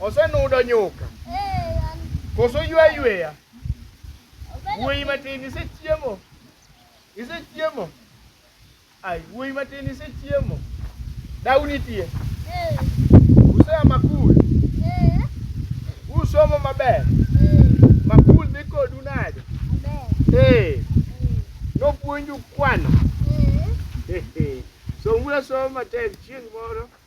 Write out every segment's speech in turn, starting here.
Osenudo nyuka. Koso ywa yweya. Wuoyi matin isechiemo. Isechiemo. Ai, wuoyi matin isechiemo. Dau nitie. Usea makul. Usomo maber. Makul dhi kodu nade? Ee. Nopuonju kwano. Somuru asoma matek chieng' moro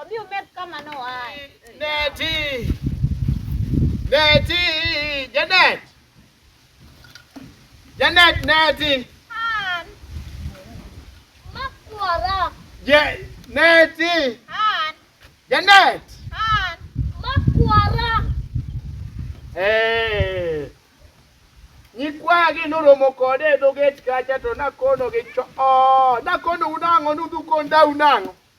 Obi umed kama noaye. Neti. Neti. Janet. Janet Neti. An. Makwara. Je Neti. An. Janet. An. Makwara. Eh. Nyikwagi noromo kode e dho gate kacha to nakonogi cho. Oh, nakonou nang'o nudhu kondau nang'o?